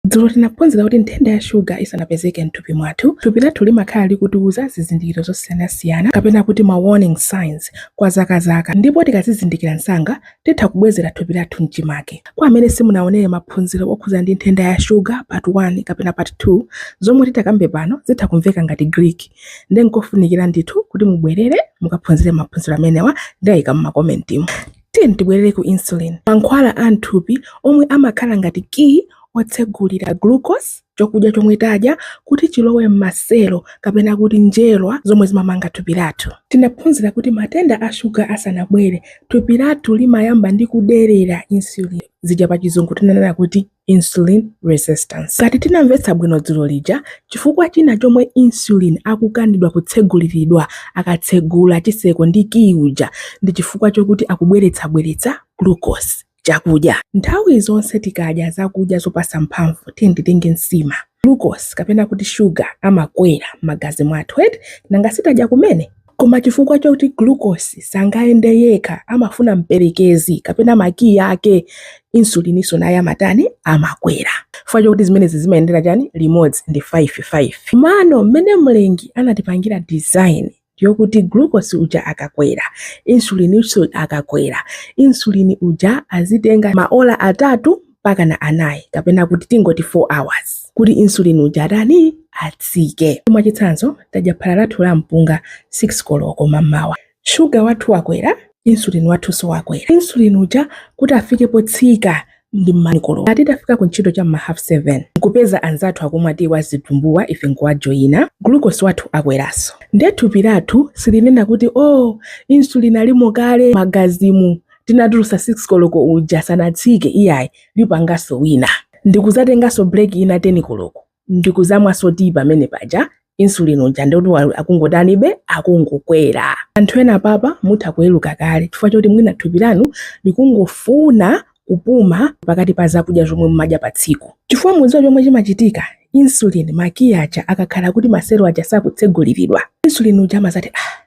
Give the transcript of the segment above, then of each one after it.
Dzulo tinaphunzira kuti nthenda ya shuga isanapezeke m'thupi mwathu, thupi lathu limakhala likutiuza zizindikiro zosiyanasiyana kapena kuti ma warning signs kwa zaka zaka ndipo tikazizindikira msanga titha kubwezera thupi lathu m'chimake. Kwa amene simunaonere maphunziro okhuza ndi nthenda ya shuga part 1 kapena part 2, zomwe titakambe pano zitha kumveka ngati Greek nde nkofunikira ndithu kuti mubwerere mukaphunzire maphunziro amenewa, ndaika m'makomentimu. Tiyeni tibwerere ku insulin, mankhwala a m'thupi omwe amakhala ngati kiyi wotsegulira glucose, chokudya chomwe tadya, kuti chilowe m'maselo, kapena kuti njerwa zomwe zimamanga thupi lathu. Tinaphunzira kuti matenda a shuga asanabwere, thupi lathu limayamba ndi kuderera insulin, zija pachizungu tinanena kuti. insulin resistance. Ngati tinamvetsa bwino dzulo lija, chifukwa china chomwe insulin akukanidwa kutseguliridwa akatsegula chiseko ndi kiyi uja ndi chifukwa chokuti akubweretsabweretsa glucose, chakudya. Nthawi zonse tikadya zakudya zopasa mphamvu, tiyeni titenge nsima, glucose kapena kuti sugar amakwera m'magazi mwathu eti, nanga sitadya kumene? Koma chifukwa choti glucose sangayende yekha amafuna mperekezi kapena makiyi ake, insulininso naye amatani? Amakwera. Chifukwa chokuti zimenezi zimayendera chani? Limodzi ndi 5, 5. Komano mmene Mlengi anatipangira design yokuti glucose uja akakwera, insulininso akakwera. Insulin uja azitenga maola atatu. mpakana anayi kapena kuti tingoti 4 hours kuti insulin uja atani atsike. Mwachitsanzo, tadya phala lathu la mpunga 6 koloko mamawa, shuga wathu wakwera, insulin wathunso wakwera. Insulin uja kuti afike potsika ndi m'ma 10 koloko, atitafika ku ntchito cha m'ma half 7 nkupeza anzathu akumwa tiyi wa zitumbuwa ife nkuwajoyina, glucose wathu akweranso. Nde thupi lathu silinena kuti oh insulin alimo kale m'magazimu, tinatulusa 6 koloko uja sanatsike iyayi lipanganso wina ndikuzatenganso break ina 10 koloko ndikuzamwanso tii pamene paja insulin uja ndikuti akungotanibe akungokwera anthu ena papa mutha kuweruka kale chifukwa choti mwina thupi lanu likungofuna kupuma pakati pa zakudya zomwe mumadya pa tsiku chifukwa mudziwa chomwe chimachitika insulin makiyi aja akakhala kuti maselo aja sakutseguliridwa insulin uja amazati ah,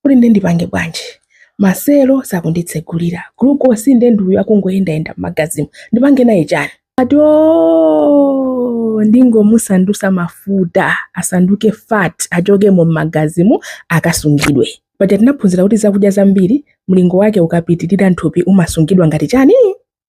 kuti nde ndipange bwanji maselo sakunditsegulira glucose nde ndiuyo akungoyendayenda m'magazimu ndipange naye chani ati o ndingomusandusa mafuta asanduke fat achokemo m'magazimu akasungidwe paja tinaphunzira kuti zakudya zambiri mlingo wake ukapitirira nthupi umasungidwa ngati chani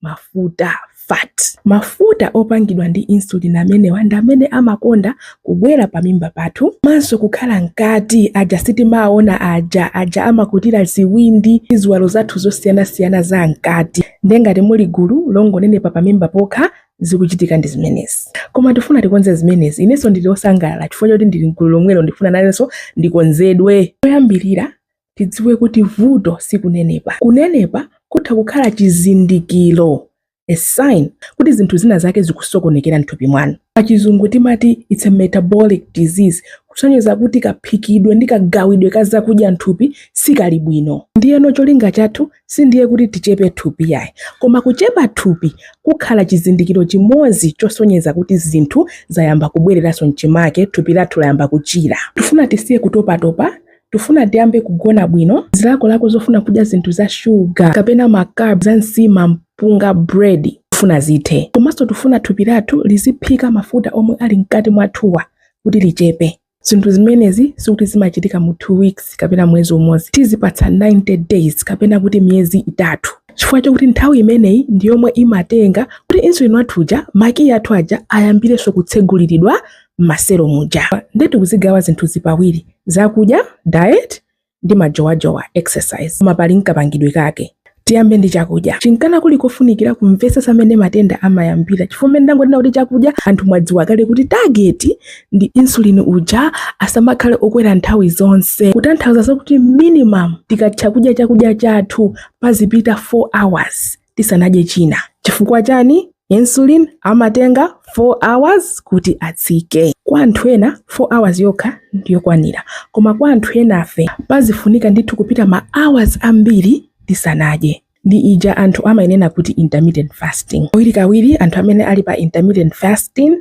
mafuta fat. Mafuta opangidwa ndi insulin amenewa ndi amene amakonda kubwera pamimba pathu komanso kukhala mkati aja sitimaona aja aja amakutira ziwindi ndi ziwalo zathu zosiyanasiyana za mkati ndiye ngati muli gulu longonenepa pamimba pokha zikuchitika ndi zimenezi koma tifuna tikonze zimenezi inenso ndili osangalala chifukwa choti ndili mgulu lomwelo ndifuna nanenso ndikonzedwe poyambirira tidziwe kuti vuto si kunenepa. Kunenepa kutha kukhala chizindikiro, a sign, kuti zinthu zina zake zikusokonekera m'thupi mwanu. Pachizungu timati it's a metabolic disease, kusonyeza kuti kaphikidwe ndi kagawidwe ka zakudya m'thupi sikali bwino. Ndiyeno cholinga chathu sindiye kuti tichepe thupi yayi, koma kuchepa thupi kukhala chizindikiro chimodzi chosonyeza kuti zinthu zayamba kubwereranso m'chimake, thupi lathu layamba kuchira. Tifuna tisiye kutopatopa, Tufuna tiyambe kugona bwino. Zilakolako zofuna kudya zinthu za sugar kapena ma carbs za nsima, mpunga, bread tufuna zithe. Komanso tufuna thupi lathu liziphika mafuta omwe ali mkati mwathuwa kuti lichepe. Zinthu zimenezi sikuti zimachitika mu 2 weeks kapena mwezi umodzi. Tizipatsa 90 days kapena kuti miyezi itatu chifukwa chokuti nthawi imeneyi ndi yomwe imatenga kuti insulin wathu uja makiyi athu aja ayambirenso kutseguliridwa m'maselo muja nde tikuzigawa zinthuzi pawiri zakudya diet ndi majowajowa exercise koma pali mkapangidwe kake tiyambe ndi chakudya chinkana kuli kofunikira kumvetsetsa mmene matenda amayambira chifukwa mmene ndangonena kuti chakudya anthu mwadziwa kale kuti target ndi insulin uja asamakhale okwera nthawi zonse kutanthauza kuti minimum tikatha kudya chakudya chathu pazipita 4 hours tisanadye china. Chifukwa chani? Insulin amatenga 4 hours kuti atsike. Kwa anthu ena 4 hours yokha ndiyokwanira koma kwa anthu enafe pazifunika ndithu kupita ma hours ambiri tisanadye. Ndi ija anthu amayinena kuti intermittent fasting. Kawirikawiri anthu amene ali pa intermittent fasting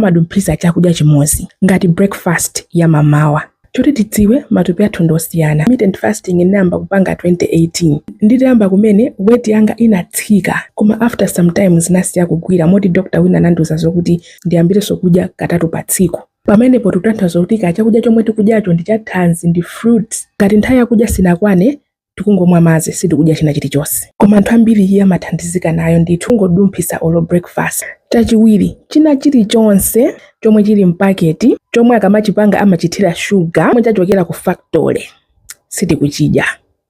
amadumphitsa chakudya chimodzi ngati breakfast ya mamawa. Choti tidziwe matupi athu ndi osiyana. Intermittent fasting ndinayamba kupanga 2018. Nditayamba kumene weight yanga inatsika koma after some time zinasiya kugwira moti doctor wina anandiuza zokuti ndiyambirenso kudya katatu pa tsiku. Pamenepo tikutanthauza kuti kaya chakudya chomwe tikudyacho ndi chathanzi ndi fruits. Ngati nthawi yakudya sinakwane tikungomwa madzi sitikudya china chilichonse koma anthu ambiri iyi amathandizika nayo ndithu kungodumphitsa olo breakfast chachiwiri china chilichonse chomwe chili mpaketi chomwe akamachipanga amachithira sugar chomwe chachokera ku factory sitikuchidya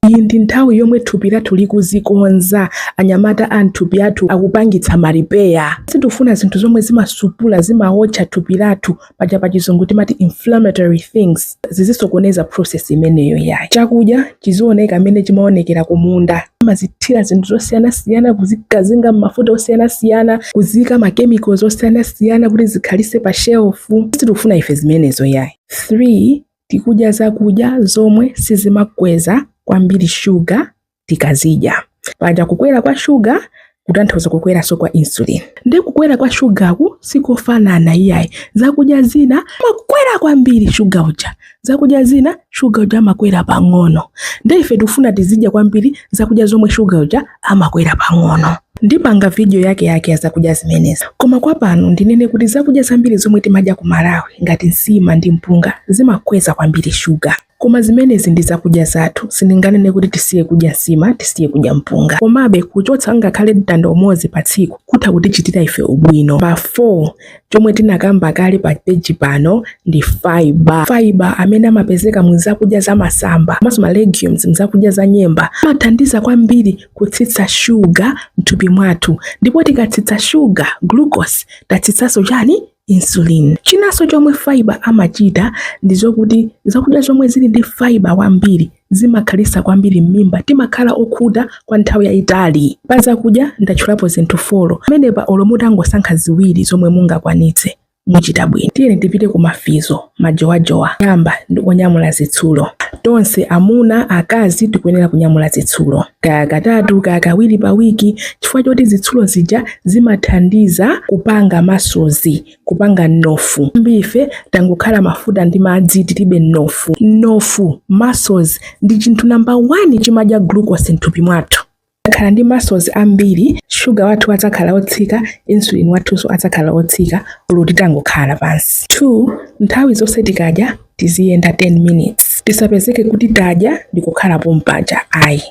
iyi ndi nthawi yomwe thupi lathu likuzikonza anyamata a mthupi athu akupangitsa ma repair sitifuna zinthu zomwe zimasupula zimawotcha thupi lathu paja pa chizungu timati inflammatory things zizisokoneza process imeneyo yayi chakudya chizioneka mmene chimaonekera kumunda kumazithira zinthu zosiyanasiyana kuzikazinga mmafuta osiyanasiyana kuzika machemicals osiyanasiyana kuti zikhalise pa shelfu sitikufuna ife zimenezo yayi 3 tikudya zakudya zomwe sizimakweza kwambiri shuga tikazidya. Paja kukwera kwa shuga kutanthauza kukweranso kwa insulin. Nde kukwera kwa shugaku sikofanana iyayi. Zakudya zina amakwera kwambiri shuga uja, zakudya zina shuga uja amakwera pang'ono. Nde ife tifuna tizidya kwambiri zakudya zomwe shuga uja amakwera pang'ono. Ndipanga vidiyo yake yake ya zakudya zimenezi, koma kwa pano ndinene kuti zakudya zambiri zomwe timadya ku Malawi ngati nsima ndi mpunga zimakweza kwambiri shuga. Koma zimenezi ndi zakudya zathu. Sindinganene kuti tisiye kudya nsima, tisiye kudya mpunga. Komabe, kuchotsa ngakhale mtanda umodzi pa tsiku kutha kutichitira ife ubwino. Namba 4, chomwe tinakamba kale pa peji pano ndi fiber. Fiber amene amapezeka mu zakudya za masamba komanso ma legumes, mzakudya za nyemba, amathandiza kwambiri kutsitsa shuga m'thupi mwathu. Ndipo tikatsitsa shuga, glucose, tatsitsanso chani? insulin. Chinanso chomwe fiber amachita ndi zokuti zakudya zomwe zili ndi fiber wambiri zimakhalisa kwambiri m'mimba timakhala okhuta kwa nthawi yayitali pa zakudya ndatchulapo zinthu folo amene pa olo mutangosankha ziwiri zomwe mungakwanitse muchita bwino tiyeni tipite ku mafizo majowajowa, yoyamba ndi kunyamula zitsulo. Tonse, amuna, akazi, tikuyenera kunyamula zitsulo kaya katatu kaya kawiri pa wiki chifukwa choti zitsulo zija zimathandiza kupanga muscles, kupanga mnofu. Ambirife tangokhala mafuta ndi madzi tilibe mnofu. Mnofu, muscles, ndi chinthu namba 1 chimadya glucose mthupi mwathu. Tikakhala ndi muscles ambiri, sugar wathu adzakhala wotsika, insulin wathunso adzakhala wotsika olo titangokhala pansi. 2, Nthawi zonse tikadya tiziyenda 10 minutes. Tisapezeke kuti tadya ndikukhala pompaja ayi.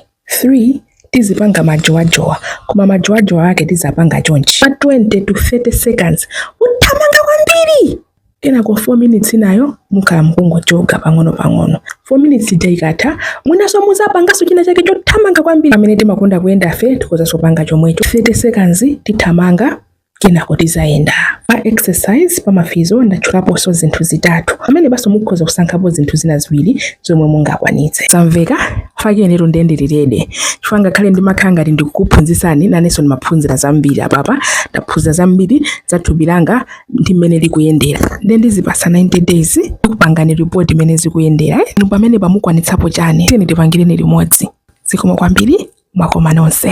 3, Tizipanga majowajowa, koma majowajowa ake tizapanga chonchi. Pa 20 to 30 seconds uthamanga kwambiri! Kenako 4 minutes zinazo mukhala mukungojoga pang'ono pang'ono. 4 minutes ija ikatha, mwayambanso muzapangaso china chake chothamanga kwambiri amene timakonda kuyendafe tikhozaso kupanga chomwecho 30 seconds tithamanga kenako tizayenda. Pa exercise pa mafizo ndatchulaposo zinthu zitatu amene paso mukhoza kusankhapo zinthu zina ziwiri zomwe mungakwanitse. Zamveka? Koma inetu nde ndili ready chifukwa ngakhale ndimakhala ngati ndikukuphunzitsani naneso ndimaphunzira zambiri apapa ndaphunzira zambiri za thupi langa ndi mmene likuyendera ndiye ndizipasa 90 days ndikupatsani report mmene zikuyendera eh? inu pamenepa mukwanitsapo chani tiyeni tipangireni limodzi zikomo kwambiri mwakoma nonse